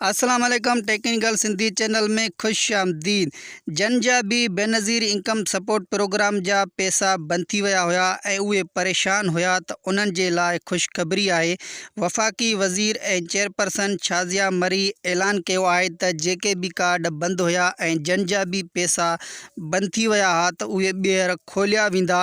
السلام عليڪم technical Sindhi channel ۾ خوش آمديد جن جا به بينظير انڪم سپورٽ پروگرام جا پيسا بند ٿي ويا هيا ۽ اهي پريشان هيا ته انهن جي لاء خوشخبري آهي وفاقي وزير ۽ چيئرپرسن شازيا مري اعلان ڪيو آهي ته جيڪي به ڪارڊ بند هيا ۽ جن جا به پيسا بند ٿي ويا ها ته اهي ٻيهر کوليا ويندا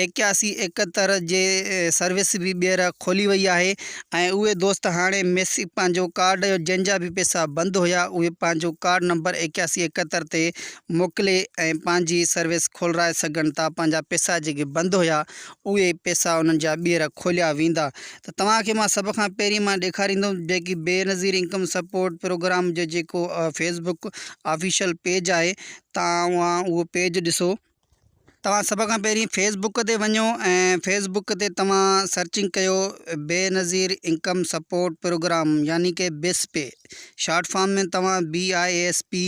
ايڪياسي ايڪهتر جي سروس به ٻيهر کولي وئي آهي ۽ اهي دوست هاڻي ميسج پنهنجو ڪارڊ جنهن جا به پئسا بند هيا اهي پنهنجو ڪارڊ نمبر ايڪياسي ايڪهتر تي موڪلي ۽ پنهنجي سروس کولرائي سگهن ٿا پنهنجا پئسا جيڪي بند هيا اهي پئسا انهن جا ٻيهر کوليا ويندا ته توهان کي مان سڀ کان پهرين مان ڏيکاريندم جيڪي بينظير انڪم سپورٽ پروگرام جو جيڪو فيسبڪ آفيشل پيج آهي توهان اهو پيج ڏسو. توهان سڀ کان پهرين فيس بڪ تي وڃو ۽ فيس بڪ تي توهان سرچنگ ڪيو بينظير انڪم سپورٽ پروگرام يعني ڪي بسپ شارٽ فارم ۾ توهان BISP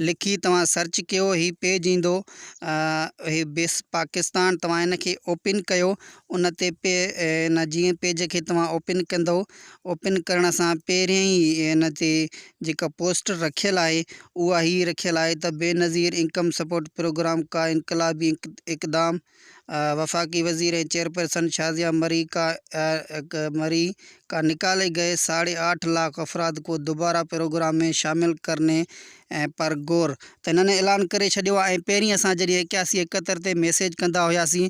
لکي توهان سرچ ڪيو هي پيج ايندو هي بسپ پاڪستان توهان هن کي اوپن ڪيو ان تي ان جيئن پيج کي توهان اوپن ڪندو اوپن ڪرڻ سان پهرين ئي ان تي جيڪا پوسٽر رکيل آهي اها هي رکيل آهي ته بينظير انڪم سپورٽ پروگرام ڪا انقلابي اقدام، وفاقي وزير ۽ چيئرپرسن شازيا مري ڪا مري ڪا نڪالي گئي ساڙهي آٺ لاک افراد ڪو دوباره پروگرام مين شامل ڪرني پر گور ته هنن اعلان ڪري ڇڏيو آهي ۽ پهرين اسان جڏهن ايڪياسي ايڪهتر تي ميسيج ڪندا هياسين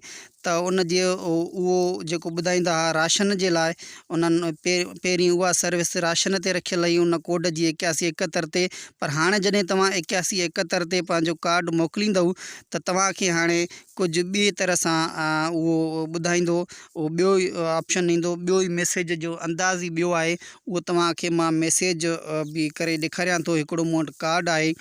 ته ان جي اهو جيڪو ٻڌائيندا ها راشن جي لاء انهن پهرين اها سروس راشن تي رکيل هئي ان ڪوڊ جي ايڪياسي ايڪهتر تي پر هاڻي جڏهن توهان ايڪياسي ايڪهتر تي پنهنجو ڪارڊ موڪليندؤ ته توهان کي هاڻي ڪجهه ٻئي طرح سان اهو ٻڌائيندو اهو ٻيو آپشن ايندو ٻيو ئي ميسيج جو انداز ئي ٻيو آهي اهو توهان کي مان ميسيج به ڪري ڏيکاريان ٿو هڪڙو مون وٽ ڪارڊ آهي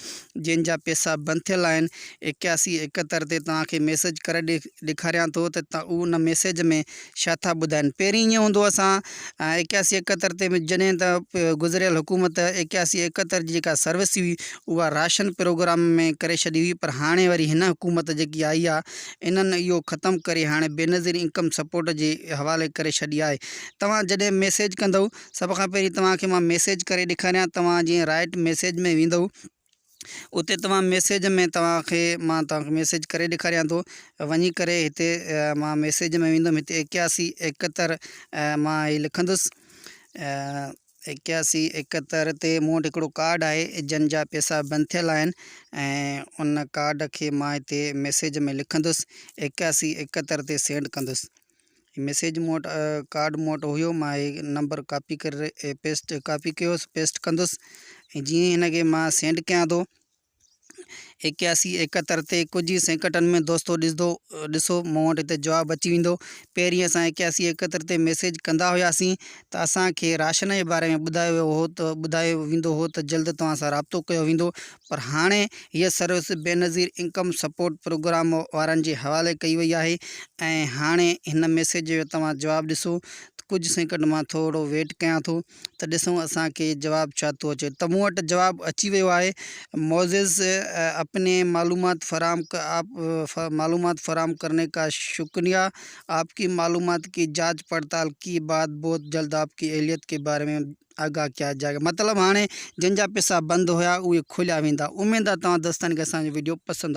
جنهن جا پيسا بند ٿيل آهن ايڪياسي ايڪهتر تي توهان کي ميسيج ڪري ڏيکاريان ٿو ته اهو ان ميسيج ۾ ڇا ٿا ٻڌائين پهرين ائين هوندو اسان ايڪياسي ايڪهتر تي جڏهن ته گذريل حڪومت ايڪياسي ايڪهتر جي جيڪا سروس هئي اها راشن پروگرام ۾ ڪري ڇڏي هئي پر هاڻي وري هن حڪومت جيڪي آئي آهي انهن اهو ختم ڪري هاڻي بينظير انڪم سپورٽ جي حوالي ڪري ڇڏي آهي توهان جڏهن ميسيج ڪندئو سڀ کان پهرين توهان کي مان ميسيج ڪري ڏيکاريان توهان جيئن رائٽ ميسيج ۾ ويندئو اتي توهان ميسيج ۾ توهان کي مان توهان کي ميسيج ڪري ڏيکاريان ٿو وڃي ڪري هتي مان ميسيج ۾ ويندم هتي ايڪياسي ايڪهتر مان هي لکندس ايڪياسي ايڪهتر تي مون وٽ هڪڙو ڪارڊ آهي جن جا پيسا بند ٿيل آهن ۽ ان ڪارڊ کي مان هتي ميسيج ۾ لکندس ايڪياسي ايڪهتر تي سينڊ ڪندس هي ميسيج مون وٽ ڪارڊ مون وٽ هيو مان هي نمبر ڪاپي ڪري پيسٽ ڪاپي ڪيو هيس پيسٽ ڪندس ۽ جيئن هن کي مان سينڊ ڪيان ٿو اڪياسي ايڪهتر تي ڪجهه ئي سيڪنڊن ۾ دوستو ڏسندو ڏسو مون وٽ هتي جواب اچي ويندو پهرين اسان اڪياسي ايڪهتر تي ميسيج ڪندا هياسين ته اسانکي راشن جي باري ۾ ٻڌايو ويو هو ته ٻڌايو ويندو هو ته جلد توهان سان رابطو ڪيو ويندو پر هاڻي هيء service Benazir income support programme وارن جي حوالي ڪئي وئي آهي ۽ هاڻي هن ميسيج جو توهان جواب ڏسو ته ڪجهه سيڪنڊ مان ٿورڙو ويٽ ڪيان ٿو ته ڏسون اسان کي جواب ڇا ٿو اچي ته مون وٽ جواب اچي ويو آهي معزز اپني معلومات فراهم آپ معلومات فراهم ڪرني ڪا شڪنيا آپ ڪي معلومات ڪي جاچ پڙتال ڪي بعد بهت جلد آپ ڪي اهليت ڪي باري ۾ آگاهه ڪيا جاء گا مطلب هاڻي جن جا پيسا بند هيا اهي کوليا ويندا اميد آ توهان دوستن کي اسان جو وڊيو پسند آيو.